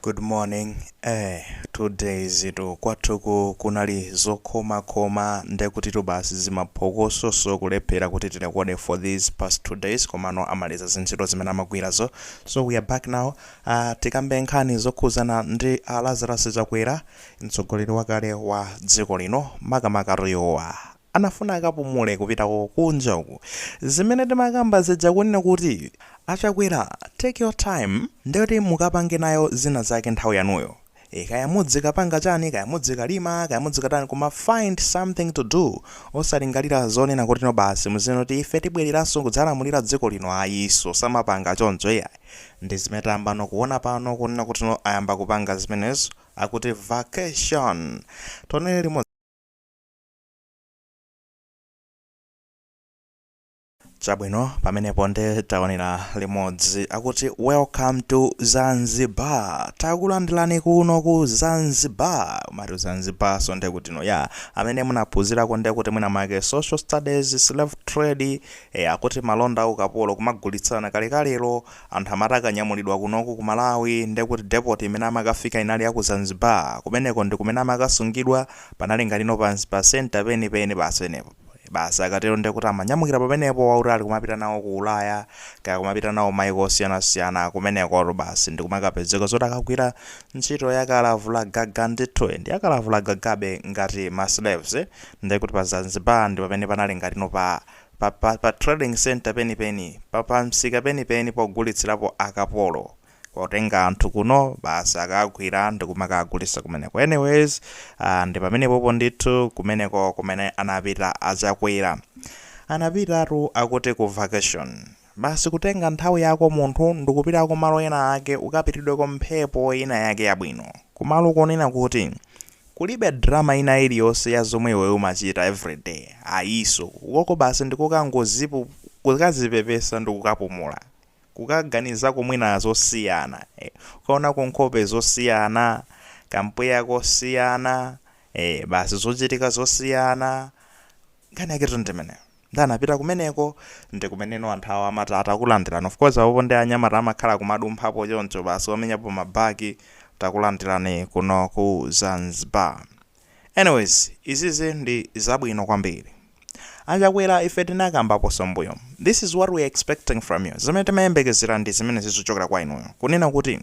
Good morning eh two days-tu kwathuku kunali zokhomakhoma nde kutitu basi zimaphokoso so kulephera kuti tirekode for these past two days komano amaliza zintchito zimene amagwirazo so we are back now uh, tikambe nkhani zokhuzana ndi a Lazarus Chakwera mtsogoleri wakale wa dziko lino makamaka riyowa Anafuna akapumule kupitako kunja uku zimene timakamba zija kunena kuti a Chakwera take your time ndiye kuti mukapange nayo zina zake nthawi yanuyo ee kaya mudzikapanga chani kaya mudzikalima kaya mudzikatani koma find something to do osalingalira zonena kutino basi muzinena kuti ife tibwereranso kudzalamulira dziko lino ayinso samapanga choncho iyayi ndi zimene tayambano kuona pano kunena kutino ayamba kupanga zimenezo akuti vacation tionele limodzi. chabwino pamenepo nde taonera limodzi akuti welcome to zanzibar takulandirani kuno ku zanzibar kumati zanzibar so nde kuti no kwa amene munaphunzirako nde kuti mwina mwake social studies slave trade e, akuti malonda a ukapolo kumagulitsana kalekalero anthu amati akanyamulidwa kunoku ku malawi nde kuti depot imene amakafika inali ya ku zanzibar kumeneko ndi kumene amakasungidwa Panali ngati no pa pa center peni peni basi penepo. Basi akatero ndiye kuti amanyamukira pamenepo wa utali kumapita nawo ku Ulaya kaya kumapita nawo maiko osiyanasiyana kumeneko basi ndikumakapezeka zoti akagwira ntchito yakalavula gaga ndithu ndi yakalavula gagabe ngati ma slaves ndiye kuti pa Zanzibar ndi pamene panali ngati no pa pa, pa, pa trading center peni peni pa, pa msika peni peni pogulitsirapo akapolo Potenga anthu kuno basi akagwira ndikumakagulisa kumeneko anyways uh, ndi pamenepopo ndithu kumeneko kumene anapita achakwera anapitatu akuti ku vacation basi kutenga nthawi yako munthu ndikupita kumalo ena ake ukapitidweko mphepo ina yake yabwino kumalo konena kuti kulibe drama ina iliyonse ya zomwe iwe umachita everyday ayinso ukoko basi ndikukangozipu kukazipepesa ndikukapumula kukaganizako mwina zosiyana eh, ukaonako nkhope zosiyana kampweya kosiyana eh, basi zochitika zosiyana nkhani yaketu ndi imeneyo nde anapita kumeneko ndi kumeneno anthu awo amati takulandirani of course apopo ndi anyamata amakhala kumadumphapo choncho basi wamenyapo mabaki takulandirani kuno ku zanzibar Anyways izizi ndi zabwino kwambiri. A Chakwera ife tinakambaponso mmbuyomo. This is what we are expecting from you. Zimene timayembekezera ndi zimenezi zochokera kwa inuyo. Kunena kuti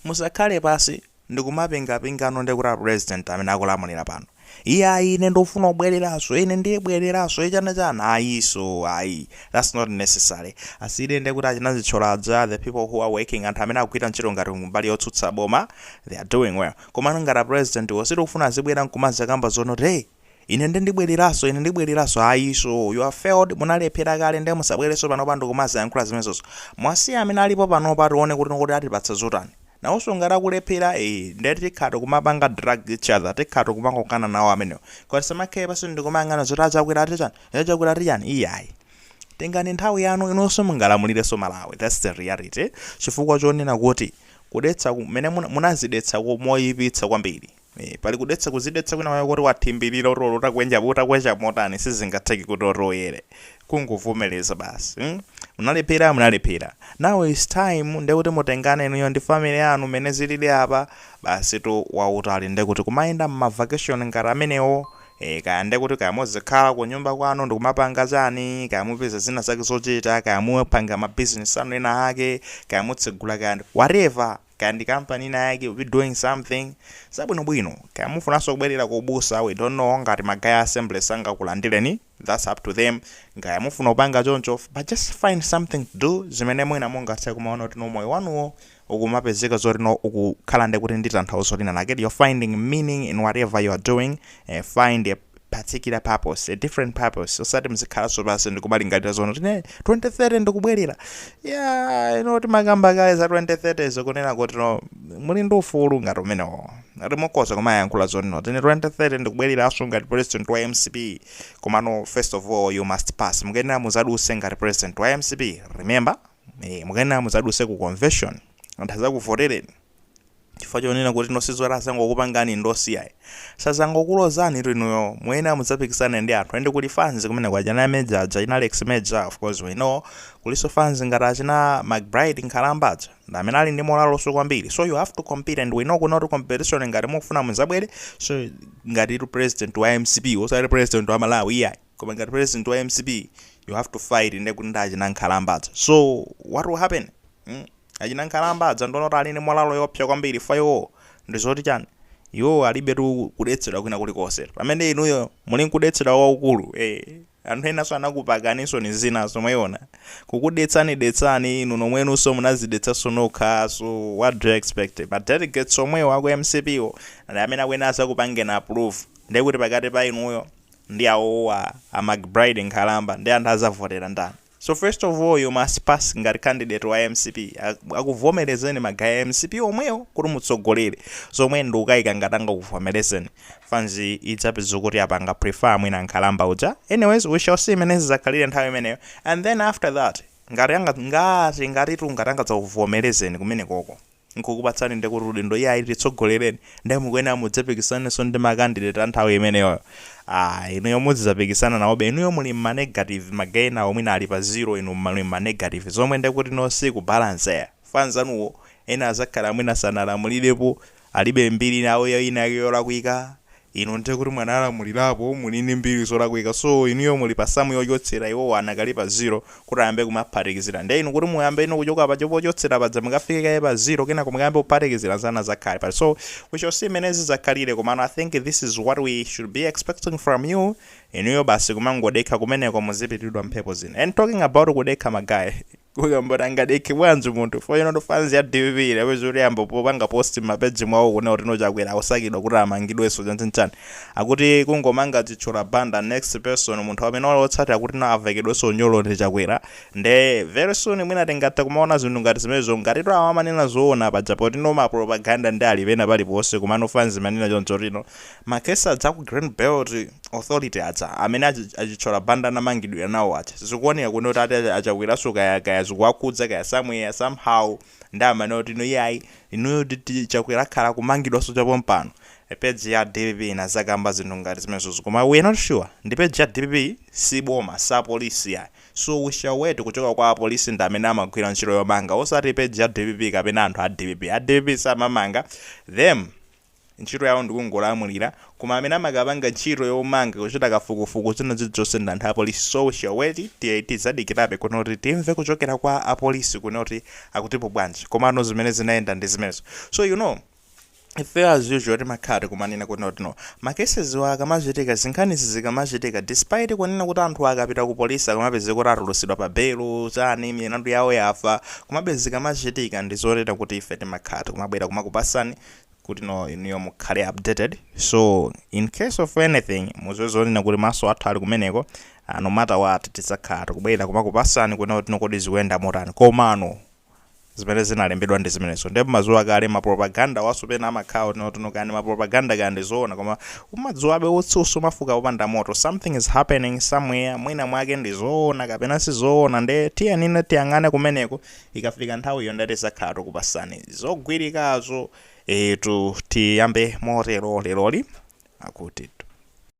musakhale pansi ndi kumapingapingano ndi kuti a president amene akulamulira pano. Iye ayi ine ndikufuna kubwereranso, ine ndibwereranso, chana chana ayinso ayi. That's not necessary. Asiyireni ndiye kuti achina Sitcholaja, the people who are working, anthu amene akugwira ntchito ngati kumbali yotsutsa boma, they are doing well. Komano ngati a president wo sitikufuna azibwera nkumazakamba zonoti hey ine nde ndibweleraso ine ndibweleraso ayiso you have failed munalephera kale nde musabwereso panopa ndikumazayankhula zimenezozo muwasiye amene alipo panopa tione kuti atipatsa zotani nawoso ngati akulephera ee nde tikhala tikumapanga drag each other tikhala tikumakokana nawo amenewo koma tisamakhale pansi ndikumayang'ana zoti achakwera ati chani achakwera ati chani iyayi tengani nthawi yanu inunso mungalamulireso malawi thats the reality chifukwa chonena kuti Kudetsa kumene muna, munazidetsa ku- moyipitsa kwambiri. Eh, pali kudetsa kuzidetsa kwina kwake koti wathimbirira kuti olo utakwenja utakwecha motani sizingatheke kuti oti uyere. Kungovomereza basi. Mm? Munalephera munalephera. Now it's time nde kuti mutengane inuyo ndi family yanu mene zilili apa basi tour wautali nde kuti kumayenda m'ma vacation ngati amenewo Eee kaya nde kuti kaya muzikhala kunyumba kwanu ndikumapanga chani, kaya mupeza zina zake zochita, kaya mupanga ma business anu ena ake, kaya mutsegula kaya ndi whatever, kaya ndi company ina yake you be doing something zabwino bwino, kaya mufunanso kubwerera ku ubusa we don't know ngati ma guy a Assemblies sangakulandireni that's up to them, kaya mufuna kupanga choncho but just find something to do zimene mwina mungathe kumaona kuti no moyo wanuwo ukumapezeka zoti no ukukhala ndi kuti ndi tanthauzo lina lake you're finding meaning in whatever you are doing eh, find a particular purpose a different purpose osati mzikhalanso pansi ndikumalingalira zonoti ine 2030 ndikubwerera ya inde timakamba kale za 2030 zokunena kuti no muli ndi ufulu ngati umenewo mukhoza kumayankhula zoti no ine 2030 ndikubwereranso ngati president wa mcp komano first of all you must pass mukuyenera muzaduse ngati president wa mcp remember Eee mukuyenera mudzaduse ku convention anthu adzakuvotereni chifukwa chonena kuti no sizoti azangokupangani endorse iyayi sadzangokulozani tu inuyo muyenera mudzapikisane ndi anthu ende kuli fans kumene kwa achina Major achina Alex Major of course we know kulinso fans ngati achina McBride Nkhalamba ndi amene ali ndi morale nso kwambiri so you have to compete and we know kunena kuti competition ngati mukufuna mudzabwereso ngati tu president wa mcp osati president wa malawi iyayi koma ngati president wa mcp you have to fight nde kuti nda achina nkhalamba adza so what will happen mm? achina nkhalamba adza ndona kuti ali ndi molalo yopsa kwambiri fa iwo ndi zoti chani iwo alibe tu kudetsedwa kwina kulikonse pamene inuyo muli nkudetsedwa waukulu eh anthu enanso anakupakaninso ni zina zomweona kukudetsani detsani inu nomwenunso munadzidetsanso nokha so what do you expect but delegates omwewo aku mcp wo ndi amene akuyenera kuzakupangani approve ndekuti pakati pa inuyo ndi awowa a McBride nkhalamba ndi anthu azavotera ndani so first of all you must pass ngati candidate wa mcp akuvomelezeni ma guy a mcp omwewo kuti mutsogolere zomwe ndikukaika ngati angakuvomelezeni fans idzapeza kuti apanga prefer mwina nkhalamba uja anyways we shall see mmene zizakhalire nthawi imeneyo and then after that ngati anga ngati ngatitu ngati angadzakuvomelezeni kumenekoko nkukupatsani nde kuti udindo iyayi titsogolereni nde mukuyenera mudzapikisanenso ndi ma candidate a nthawi imeneyoyo aah inuyo mudzidzapikisana nawobe inuyo muli mma negative ma guy enawo mwina ali pa zero inu muli mma negative zomwe nde kuti no siku balance chifukwa anzanuwo ena adzakhala mwina sanalamulirepo alibe mbiri yawo ina yake yolakwika Inu nde kuti mwanalamulirapo muli ndi mbiri zolakwika so inuyo muli pa sum yochotsera iwowo anakali pa zero kuti ayambe kumaphatikizira nde inu kuti muyambe inu kuchoka paja pochotsera paja mukafike kaye pa zero kenako mukayambe kuphatikizira anzanu azakhala pati so we shall see mmene zizakhalire komano I think this is what we should be expecting from you inuyo basi kumangodekha kumeneko muzipitidwa mphepo zina and talking about kudekha ma guy kuyamboti angadekhe bwanji munthu for you know fans ya dpp inapeza kuti yayamba kupanga post m'mapeji mwawo kunena kuti no chakwera akusakidwa kuti amangidwenso chanchanchani akuti kungomanga chithyola banda next person munthu amene ali otsatira kuti no avekedwenso unyolo ndi chakwera nde very soon mwina tingathe kumaona zinthu ngati zimenezo ngatitu awa amanena zoona paja poti no mapropaganda ndi ali pena paliponse komano fans imanena choncho tino Ma case aja aku Green Belt Authority aja amene a, a Chithyola Banda anamangidwira nawo aja zikuoneka kuno kuti ati a Chakweraso kaya kaya zikuwakhudza kaya somewhere somehow ndi amene oti no iyayi inuyo titi Chakwera akhala kumangidwanso chapompano page ya dpp inazakamba zinthu ngati zimenezozo koma we not sure ndi page ya dpp si boma si apolisi yayi so we shall wait kuchoka kwa apolisi ndi amene amagwira ntchito yomanga osati page ya dpp kapena anthu a dpp a dpp samamanga them Ntchito yawo ndikungolamulira koma amene amakapanga ntchito yomanga kuchita kafukufuku zina zilizonse ndi anthu apolisi so we shall wait tiyeni tizadikirabe kuno kuti timve kuchokera kwa apolisi kuno kuti akutipo bwanji komano zimene zinayenda ndi zimenezo so you know ifeyo as usual timakhala tikumanena kuno kuti no ma cases akamachitika zinkhanizi zikamachitika despite kunena kuti anthuwa akapita ku polisi akamapezeka kuti atulusidwa pa belo chani milandu yawo yafa komabe zikamachitika ndizonena kuti ife timakhala tikumabwera kumakupasani kutino inuyo mukhale updated so in case of anything muziwe zonena kuti maso athu ali kumeneko ah, no matter what tidzakhala tikubwera kumakupasani kunena kutino kodi zikuyenda motani komano zimene zinalembedwa ndi zimenezo ndipo mumadziwa kale mapropaganda awaso pena amakhala kuti no tinkani mapropaganda kaya ndizoona koma umadziwabe utsi sumafuka popanda moto something is happening somewhere mwina mwake ndizoona kapena sizoona nde tiyeni tiyang'ane kumeneko Ikafika nthawiyo nde tizakhala tukupasani zogwirikazo eetu tiyambe motero leroli akuti.